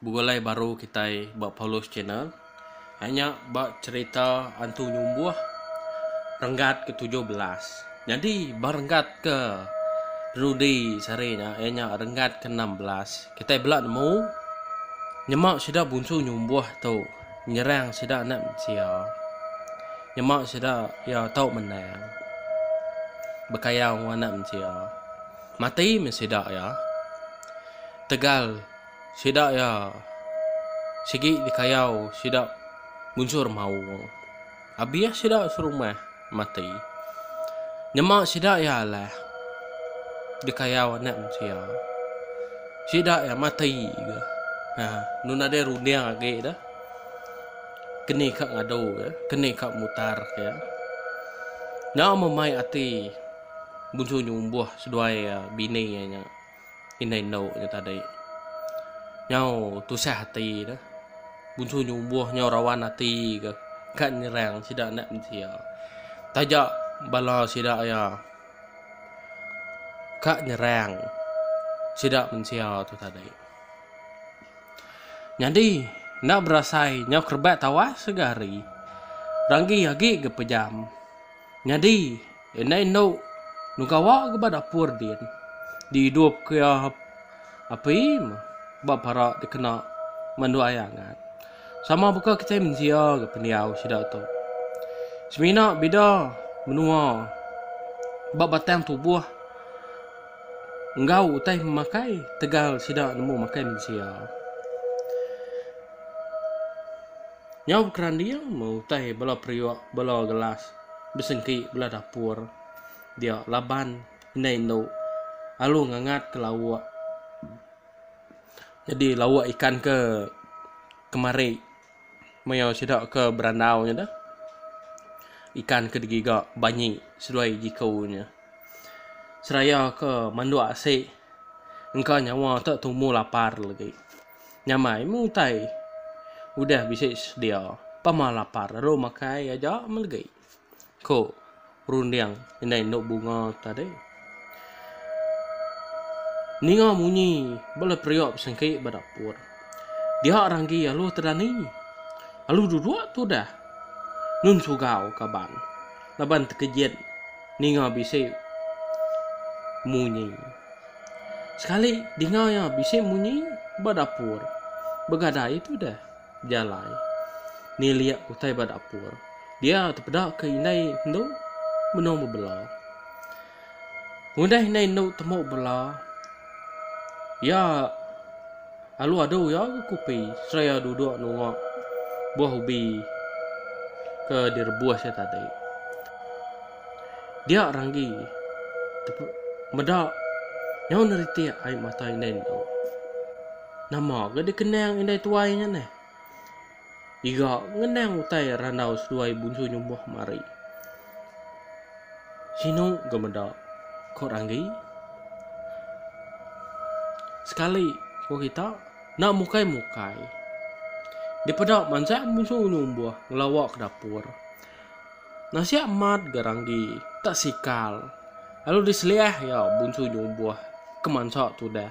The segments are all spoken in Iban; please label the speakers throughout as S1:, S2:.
S1: Begulai baru kitai ba Paulus Channel. Hari nya ba cherita Antu Nyumbuh renggat ke tujuh belas. Nyadi ba renggat ke dulu di sehari nya iya nya renggat ke enam belas. Kitai bela nemu nyema sida Bunsu Nyumbuh tu nyerang sida anak mensia. Nyema sida iya tau menang bekayau enggau anak mensia. Mati meh sida iya. Tegal. Sida iya sigi dikayau sida munsur maung. Abih sida serumah mati, nyema sida iya alah dikayau Anak Mensia. Sida iya mati ga. Ha, nu nadai runding agi da keni ka ngadu ga, keni ka mutar ke. Nya meh mai ati Munsu Nyumbuh seduai bini iya nya. Indai endu nya tadi. Nyau tusah ati ne. Bunsu nyubuh nyau rawan ati ke ka nyerang sida anak mensia. Taja bala sida iya ka nyerang sida mensia tu tadi. Nyadi enda berasai nyau kerebat tawas ga hari. Ranggi agi ga pejam. Nyadi, indai indu enu gawa ke ba dapur din dihidupka iya api ba parak dikena mandu ai angat. Sama baka kitai mensia ga pendiau sida tu. Semina bida menua ba batang tubuh enggau utai pemakai tegal sida nemu makai mensia. Nyau bekeranding meh utai bala periuk, bala gelas besengki bala dapur dia laban indai indu alu ngangat ke lauk nyadi lauk ikan ke kemari maya sida ke berandau nya deh ikan ke digiga banyi seduai jiku nya. Seraya ke manduk asi engka nyawa tu tumu lapar lagi. Nyamai meh utai. Udah bisi sedia, pama lapar lalu makai aja melegi, ku runding indai endu bunga tadi. Ninga munyi bala periuk besengki ba dapur. Dia Ranggi alu Tedani. Alu duduk tu udah. Nun Sugau kaban laban tekejit ninga bisi munyi. Sekali dinga iya bisi munyi ba dapur. Begadai tu deh bejalai nilik utai ba dapur. Dia tepeda ke indai endo benung bebela. Udah indai endo tembu bebela iya alu adu iya ke kupi sereta iya duduk nunga buah ubi ke direbus iya tadi. Dia Ranggi tepu meda nyau neritik ai mata indai endo. Nama ga dikenang indai tuai nya neh. Iga ngenang utai randau seduai bunsu nyumbuh mari. Sinu ga meda, ko Ranggi. Sekali ko kita enda mukai-mukai. Dipeda mansang bunsu nyumbuh ngelawa ke dapur. Nasiak amat ga ranggi tak sikal lalu diseliah iya bunsu nyumbuh ke mansa tudah.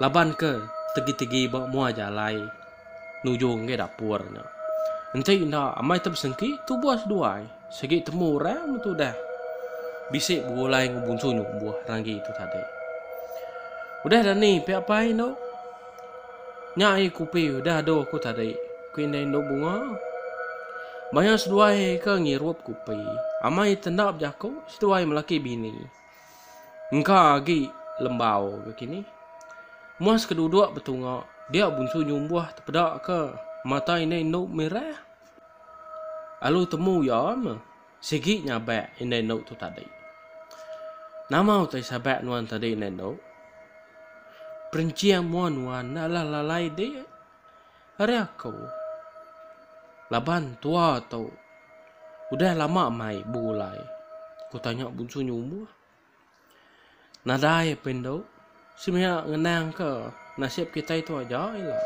S1: Laban ke tegi-tegi ba mua jalai nuju enggai dapur nya. Enti enda amai te besengki tubuh seduai sigi temu orang meh tudah bisi begulai enggau bunsu nyumbuh ranggi tu tadi. Udah dani pia pai endo. Nya ai kupi udah doh ku tadi, ku indai endu bunga. Maya seduai ke ngirup kupi, amai tendap jaku seduai melaki bini. Engka agi lembau ke kini. Muas ke duduk betunga, dia Bunsu Nyumbuh tepeda ke mata indai endu merah. Alu temu iya meh. Sigi nyabak indai endo tu tadi. Nama utai sabak nuan tadi indai endo? Perincing mua nuan enda lah lalai di ari aku. Laban tua tu udah lama mai begulai? Ku tanya Bunsu Nyumuh. Nadai pun tu, semina ngenangka nasib kitai tu aja ila.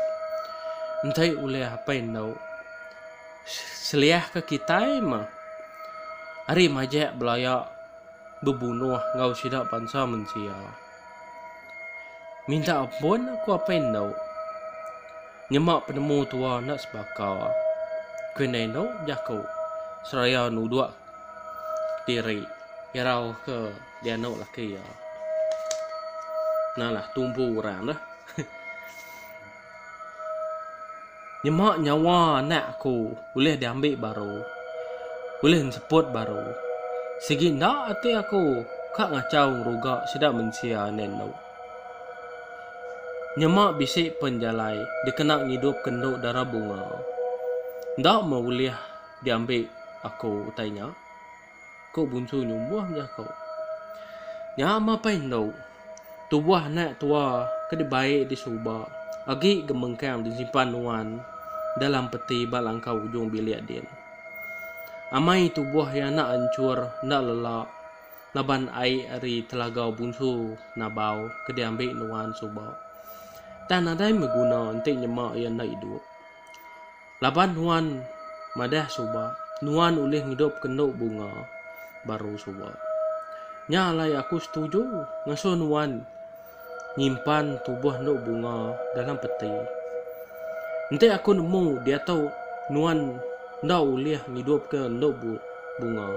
S1: Enti ulih apai endu seliahka kitai mah ari majak belaya bebunuh enggau sida bansa mensia. Minta ampun aku apai endu nyema penemu tua enda sebaka. Ku indai endu jaku seraya nuduk. diri irau ke dianu laki iya. Nalah tumpu orang tu. Nyema nyawa anak aku ulih diambil baru. Ulih enseput baru. Sigi enda ati aku ka ngachau ngeruga sida mensia enda indu. Nyema bisi pen jalai dikena ngidupka endu dara bunga. Enda meh ulih. Diambi aku utai nya, ku Bunsu nyumbuh meda ku. Nya mapai endu, tubuh anak tua ke dibai di suba agi gemengkang disimpan nuan dalam peti ba langkau ujung bilik din. Amai tubuh iya enda anchur enda lela laban ai ari telaga Bunsu Nabau ke diambi nuan suba. Tang nadai meh guna enti nyema iya enda idup. Laban nuan madah suba, nuan ulih ngidupka endu bunga baru suba. Nya alai aku setuju ngasuh nuan nyimpan tubuh endu bunga dalam peti. Enti aku nemu diatu nuan enda ulih ngidupka endu bunga,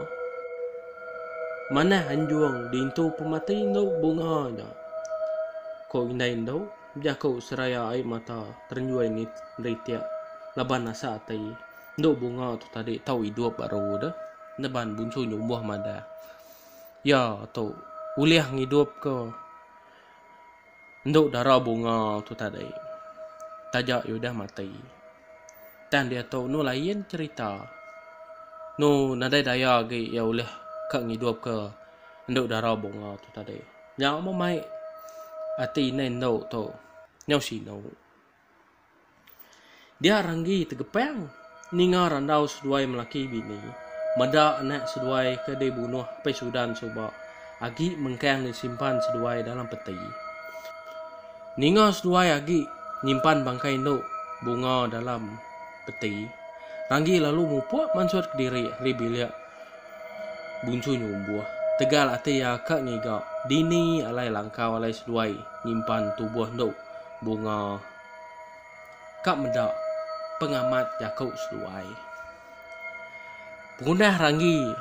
S1: manah anjung diintu pemati endu bunga nya, ku indai endu. Bejaku seraya ai mata terenjoi neritik laban asa ati endu bunga tu tadi tau idup baru de neban bunsu nyumbuh madah iya tu ulih ngidupka endu dara bunga tu tadi taja iya udah mati. Tang diatu enu lain cherita enu nadai daya agi iya ulih ka ngidupka endu dara bunga tu tadi. Nyau meh mai ati indai endo tu. Nyau sinu. Dia Ranggi tegepang ninga randau seduai melaki bini meda anak seduai ke dibunuh Apai Sudan suba agi mengkang disimpan seduai dalam peti. Ninga seduai agi nyimpan bangkai endo Bunga dalam peti, Ranggi lalu mupuk mansut kediri ari bilik Buncu nyumbuh. Tegal ati iya ka ngiga. Dini alai langkau alai seduai nyimpan tubuh endo bunga ka meda pengamat jaku seduai. Pengundah ranggi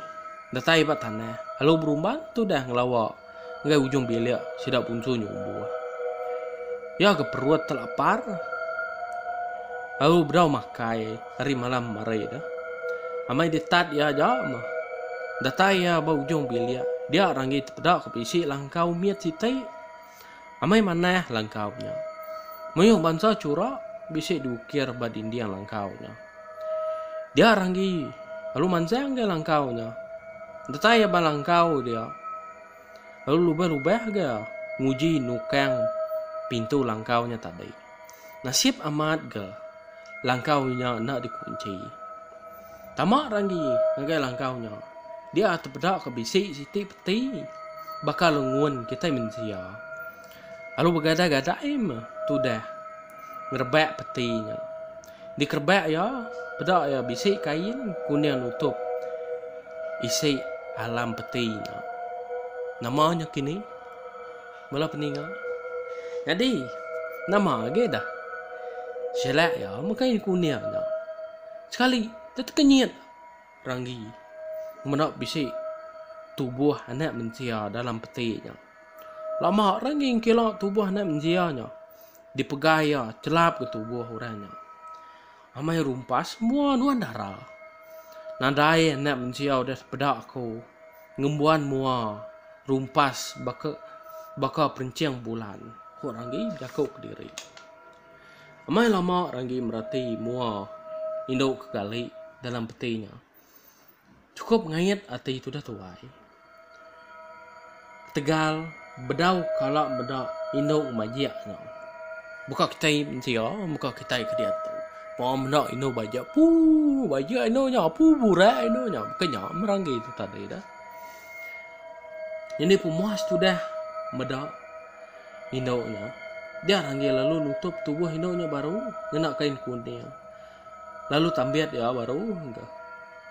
S1: datai ba tanah lalu berumban tudah ngelawa. enggai ujung bilik sida punsu nyumbu iya ke perut telapar lalu bedau makai ari malam hari tu amai ditat iya aja meh datai iya ba ujung bilik dia ranggi tepeda ke bisi langkau mit siti. Amai manah langkau nya. Mayuh bansa churak bisi diukir ba dinding langkau nya. Dia ranggi lalu manjang ga langkau nya. Datai iya ba langkau dia. Lalu lubah-lubah ga nguji nukang pintu langkau nya tadi. Nasib amat ga langkau inya enda dikunchi. Tama Randi ngagai langkau nya, dia tepeda ke bisi siti peti baka lengun kitai mensia. Lalu begadai-gadai meh tudah ngerebak peti nya. Dikerebak iya, peda iya bisi kain kuning nutup isi alam peti nya. Nama nya kini? Bala peninga. Nyadi, nama agi dah. Shelak iya mega iya kuning nya. Sekali dia tekenyit ranggi meda bisi tubuh anak mensia dalam peti nya. Lama ranggi ngkila tubuh anak mensia nya dipegai iya chelap ke tubuh orang nya. Amai rumpas mua nuan dara. Nadai anak mensia udah sepeda aku ngembuan mua rumpas baka baka perenching bulan, ku Ranggi bejaku kediri. Amai lama Ranggi merati mua indu ke gali dalam peti nya. Chukup ngait ati tudah tuai. Ketegal bedau kala meda indu majik nya. Baka kitai mensia, baka kitai ke diatu. Paa meda indu bajik, puu bajik indu nya, puu burai indu nya. Baka nya meranggi tu tadi dah. Nyadi pemuas tudah meda indu nya. Dia ranggi lalu nutup tubuh indu nya baru ngena kain kuning. Lalu tambit iya baru engka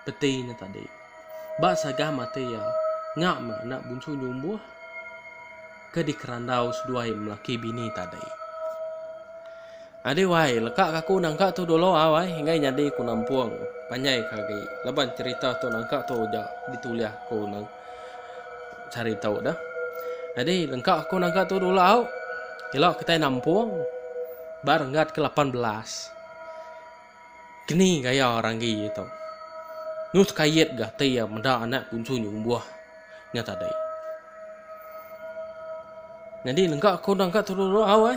S1: peti nya tadi. Ba sagah mati iya, nya meh anak bunsu nyumbuh ke dikerandau seduai melaki bini tadi. Adi wai, leka ka aku nangka tu dulu au ai, enggai nyadi ku nampung panjai ka agi laban cherita tu nangka tu uja ditulih ku nang sehari tu dah. Adi lengka aku nangka tu dulu au, ila kitai nampung ba renggat ke lapan belas. Keni gaya orang agi iya tu. Nyu sekayet ga ti iya meda anak kunsu nyu umbuh nya tadi. Nyadi nengka ko dang ka turu rau ai.